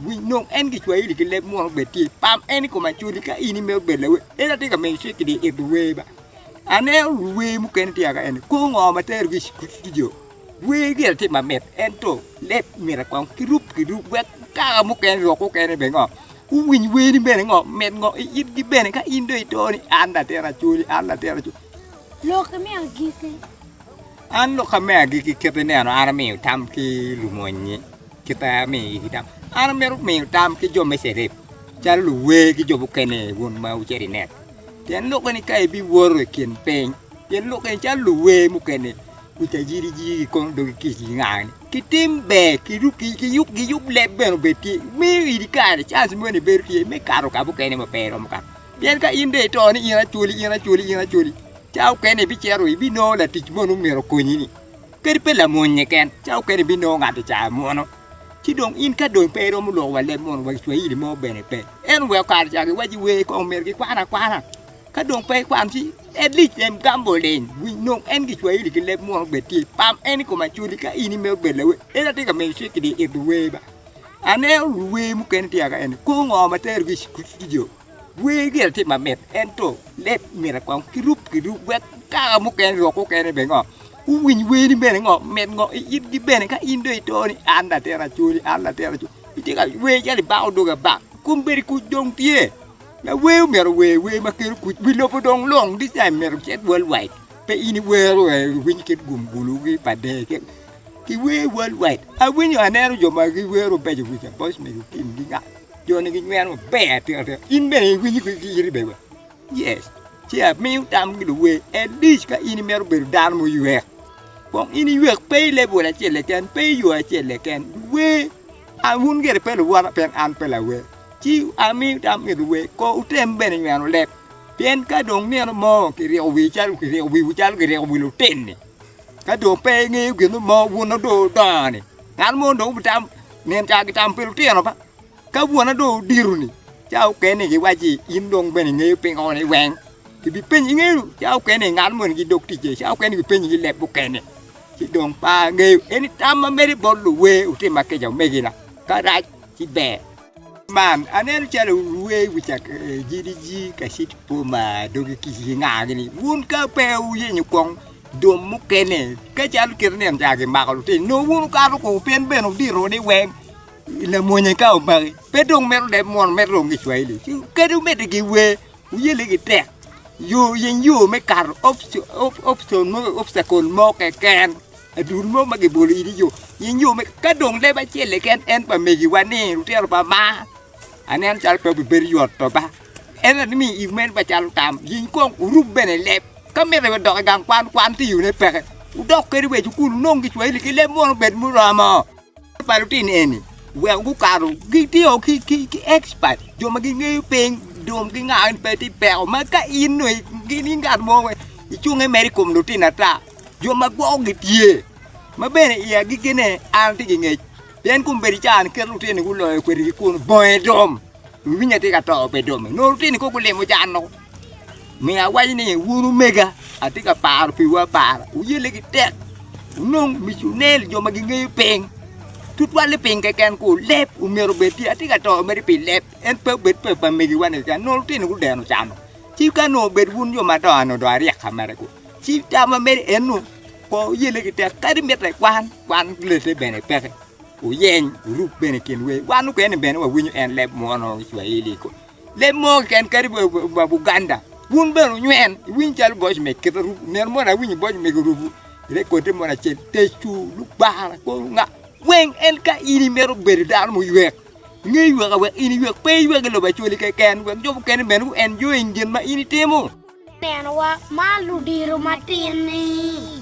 Winj dong, en Gicwahili ki leb munu bed tye i pam en i kom acodi ka in imito bedo lawer. En atye ka miyo cik ni it luwer ba. Aneno luwer mukene tye ka en kor ngo ma terogi i studio. Wer gire tye mamit ento leb myero kong kirub kirub wek kaka mukene rok mukene bene ngo guwiny werni bene ngo mit ngo i itgi bene ka in dong ito ni an latin acodi an latin acodi. Lokke me agikki. An loka me agikki kite neno an amiyo tam ki lumonyi. Kit ma amiyo igi tam, an amito miyo tam ki jo me Cerep, calo luwer ki jo mukene wun ma wucito i net. Pien lok eni ka ibiwoto i kin piny, pien lok eni calo luwer mukene kuca jiri jiri gikono dogi kic gingangani. Kitim ber, kiruk, ki- kiyub, giyub leb bene obed tye, miyo idi kare cans moni bedo tye me kato ka mukene ma pe iromo kato. Pien ka in dong ito ni in acwali, in acwali, in acwali, cawa mukene ibicito ibinongo latic moni myero okonyini. Kadi pe lamony-nyi ken, ca okene ebinongo ngat i caa munu. Ci dong in ka dong pe iromo loko wa leb munu wa i cwahili mo bene pe, en weko kare ca giwaci wer kong myero gikwan akwana. Ka dong pe ikwano ci at least lem gambol leny winy nong en gicwahili ki leb munu bed tye. Pam en i kom acwali ka in imito bedo lawer, en atye ka miyo cik kidi ito wer ba. Aneno luwer mukene tye kaka eni, kor ngo ma terogi i cukul? Wer myero etye mamit ento leb myero kong kirub kirub wek kare mukene rok mukene bene ngo guwiny werni bene ngo mit ngo i itgi bene ka in dong ito ni an latin acwali an latin acwali itye ka wer calo ibako dogi abaka kun bedi kuc dong tye lawer omyero ower wer ma kelo kuc wi lobo dong lung this time myero ocit world wide pe in iwero wer iwiny kit gum bulu ki pa dee kit kiwer world wide awinyo aneno jo ma giwero beco kica voice me lutim ki nga. Joni ginyweno maber atika tika. In bene iwinyo ki iri bene wa. Yes. Ci amiyo tam ki luwe. At least ka in imito bedo dano muywek. Kong in iywek pe i level acel leken, pe i yo acel leken. Luwe. An wun gire pe luwota pien an pe lawe. Ci amiyo tam ki luwe. Ko utem bene nyweno leb. Pien ka dong nino mo kiryeko wi calo kiryeko wiwu calo kiryeko wi lutin-ni, ka dong pe ingeyo gin mo wun odong udongo-ni, Dano mono dong obitam nino ca gitam pi lutino ba, ka bwonna dong odito-ni ca mukene giwacci in dong bene ingeyo pingo ni weng kibipenyi ingeyo ca mukene ngat moni gidok ticce ca mukene kibipenyi ki leb mukene ci dong pe angeyo eni tam ma medo bot luwe wutim ma kica omegina ka rac ki ber. Man, aneno calo rwer i wi cakagidigi ka cito i boma ma dogi kic gingago ni wun ka pe wuyenyo kong dum mukene ka calo kit ni eni caa gimako lutino nongo wun wukato kong pien bene wudito ni weng lamwonye ka omaki pe dong mito leb mono mito dong gicwayili ci kadi omedde giwer wuyelle gitek yo yeny yo me kato opcion mo obstacle mo keken. Adul mo ma gibolo idi yo, in yo me ka dong leb acel keken en pa megiwa ni lutino pa ma aneno calo pe bibedo yot to ba en ni mi iwu meno ba calo tam jing kong uruk bene leb ka miti wa dok i gang kwan kwan ti yone peke wudok kadi wa i cukul wunong gicwahili ki leb munu bed muromo. Kwan pa lutino eni weko gukato gitiyo ki expert jo ma gingeyo piny dong gingayo ni pe tye peko ma ka in dong gin in ngat mo wek icunge mere i kom lutino ata jo ma gwoko gitye ma bene i agikine an atye ki ngec pien kong bedo caro niketo lutino-ni guloyo kwedigi kunu bongo i dom. Winya tye ka to pe dome. Nongo lutini kong gulimo jan noko. Miyo awaco ni wun omega atye ka paro piwu apara. Wuyelle ki tek. Wunong miconel jo ma gingeyo piny. Tutwal ni piny keken ku leb omyero obed tye. Atye ka to mere pi leb. En pe obed pe pa megiwa ni keken. Nongo lutini gudeno cano. Ci ka nongo obed wun jo madongo ni dong aryeka mere ku. Ci tam ma meri en nu ko wuyelle ki tek. Kadi mitte kwan, kwan lette bene peke. Wuyeny, wuruk bene kin wer. Wan mukene bene wawinyo en leb munu i Cwaili kong. Leb mo keken kadi ba Buganda. Wun bene wunywen, iwiny calo boc me kit arubu. Nino moni awinyo boc me arubu, rekote moni acel, tecu, lubara, kor nga, weng en ka in imito bedo dano muywek. Nge ywek awek in iywek, pe iywek i lobo Acwali keken, wek jo mukene bene gu enjoying gin ma in itimo. Nenowa ma ludiro matin-ni.